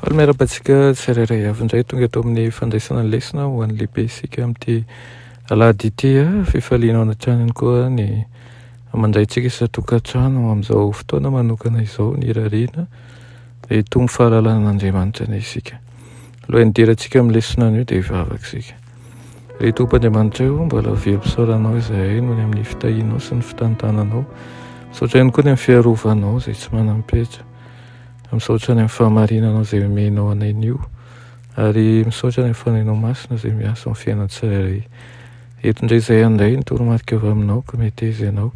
Faly miarahaba antsika tsirairay avy indray tonga eto amin'ny fandraisana ny lesona ho an'ny lehibe isika amin'ity alahady ity a ah. fifaliana ao an-tranony koa ny aman-draintsika isan-tokantrano amin'izao fotoana manokana izao ny irariana reto ny fahalalan'Andriamanitra ny isika. Alohan'ny hidirantsika amin'ny lesona anio dia hivavaka isika. Ry Tompo Andriamanitray o, mbola very fisaorana anao izahay noho ny amin'ny fitahianao sy ny fitantananao. Misaotra ihany koa ny amin'ny fiarovanao izay tsy manam-petra. Misaotra ny amin'ny fahamarinanao izay omenao anay anio. Ary misaotra ny amin'ny fanahinao masina izay miasa amin'ny fiainan'ny tsirairay. Eto indray izay handray ny toromarika avy aminao ka meteza ianao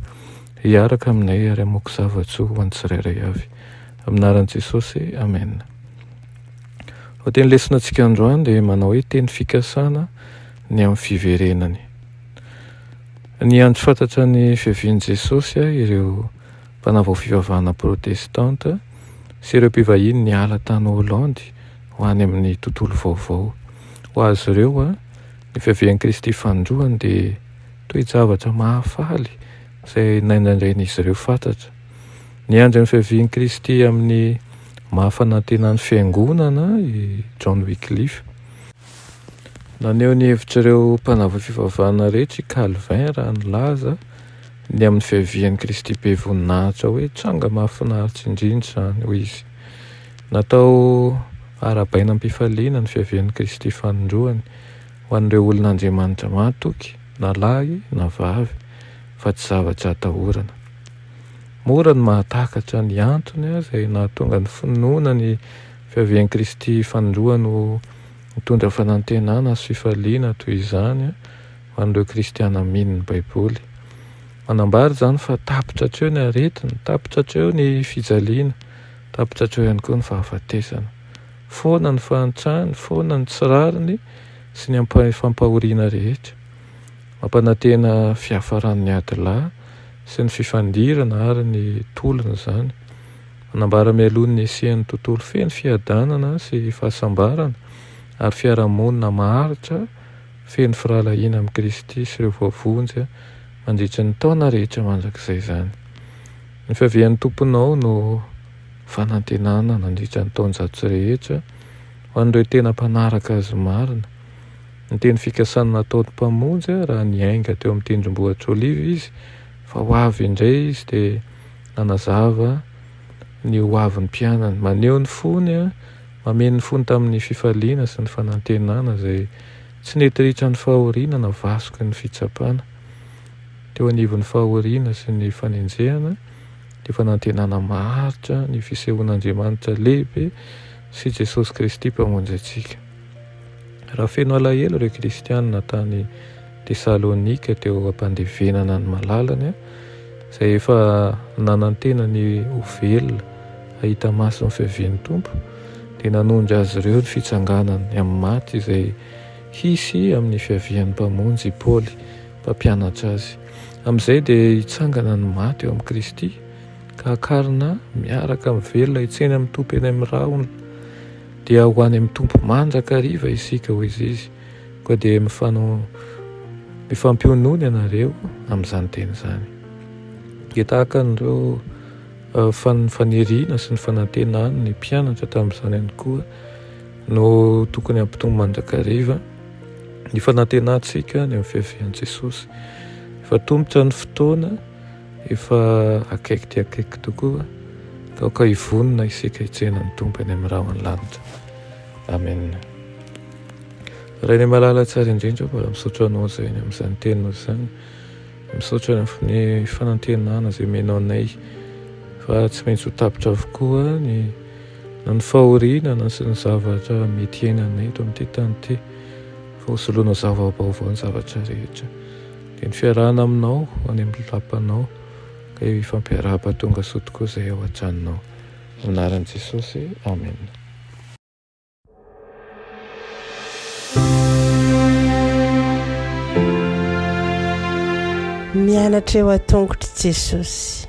hiaraka aminay ary hamoaka zava-tsoa ho an'ny tsirairay avy. Amin'ny anaran'i Jesosy, Amen. Ho teny lesona antsika androany dia manao hoe teny fikasana ny amin'ny fiverenany. Ny andro fantatra ny fiavian'i Jesosy ah, ireo mpanavao fivavahana protestanta sy ireo mpivahiny niala tany Holandy ho any amin'ny tontolo vaovao. Ho azy ireo ah, ny fiavian'i Kristy Fanindroany dia toe-javatra mahafaly izay naindraindrain'izy ireo fatratra. Niandry ny fiavian'i Kristy amin'ny maha fanantenan'ny Fiangonana i John Wycliffe. Naneho ny hevitr'ireo mpanavaka fivavahana rehetra i Calvin raha nilaza ny amin'ny fiavian'i Kristy be voninahitra hoe tranga mahafinaritra indrindra izany, hoy izy. Natao arahabaina am-pifaliana ny fiavian'i Kristy fanindroany ho an'ireo olon'Andriamanitra matoky, na lahy na vavy, fa tsy zavatra atahorana. Mora ny mahatakatra ny antony aza e, nahatonga ny finoana ny fiavian'i Kristy fanindroany ho nitondra fanantenana sy fifaliana toy izany ho an'ireo kristiana mino ny Baiboly. Manambara izany fa tapitra hatreo ny aretina, tapitra hatreo ny fijaliana, tapitra hatreo ihany koa ny fahafatesana. Foana ny fahantrany, foana ny tsy rariny sy ny fampahoriana rehetra. Mampanantena fiafaran'ny ady lahy sy ny fifandirana ary ny tolona izany. Manambara mialoha ny nisian'ny tontolo feno fiadanana sy fahasambarana ary fiarahamonina maharitra feno firahalahiana amin'i Kristy sy ireo voavonjy mandritry ny taona rehetra mandrakizay izany. Ny fiavian'ny Tomponao no fanantenana nandritra ny taonjato sy rehetra ho an'ireo tena mpanaraka Azy marina. Ny teny fikasany nataony Mpamonjy raha niainga teo amin'ny tendrombohitr'Oliva Izy fa ho avy indray Izy dia nanazava ny ho avin'ny mpianany. Maneho ny fony, mameno ny fony tamin'ny fifaliana sy ny fanantenana izay tsy nety ritra ny fahoriana na vasoky ny fitsapana. Teo anivon'ny fahoriana sy ny fanenjehana, dia fanantenana maharitra ny fisehoan'Andriamanitra lehibe sy Jesosy Kristy Mpamonjy antsika. Raha feno alahelo ireo kristianina tany Tesalonika teo am-pandevenana ny malalany, izay efa nanantena ny ho velona hahita maso ny fiavian'ny Tompo, dia nanondro azy ireo ny fitsanganany amin'ny maty izay hisy amin'ny fiavian'ny Mpamonjy i Paoly mpampianatra azy. Amin'izay dia hitsangana ny maty eo amin'i Kristy ka hakarina miaraka amin'ny velona hitsena amin'ny Tompo eny amin'ny rahona. Dia ho any amin'ny Tompo mandrakariva isika, hoy Izy. Koa dia mifano, mifampionony ianareo amin'izany teny izany. Dia tahaka an'ireo fan, faniriana sy ny fanantenany ny mpianatra tamin'izany ihany koa no tokony hampitombo mandrakariva ny fanantenantsika any amin'ny fiavian'i Jesosy. Efa tomotra ny fotoana. Efa akaiky dia akaiky tokoa ka aoka hivonona isika hitsena ny Tompo eny amin'ny rahon'ny lanitra. Amen. Rainay malala tsara indrindra, mbola misaotra anao izay eny amin'izany teninao izany. Misaotra ny fanantenana izay menao anay fa tsy maintsy ho tapitra avokoa ny na ny fahoriana na sy ny zavatra mety iainanay eto amin'ity tany ity fa ho soloana zava-baovao ny zavatra rehetra. Dia ny fiarahana aminao any amin'ny lapanao, ka eo hifampiarahaba tonga soa tokoa izay ao an-tranonao. Amin'ny anaran'i Jesosy, amena. Mianatra eo an-tongotr'i Jesosy.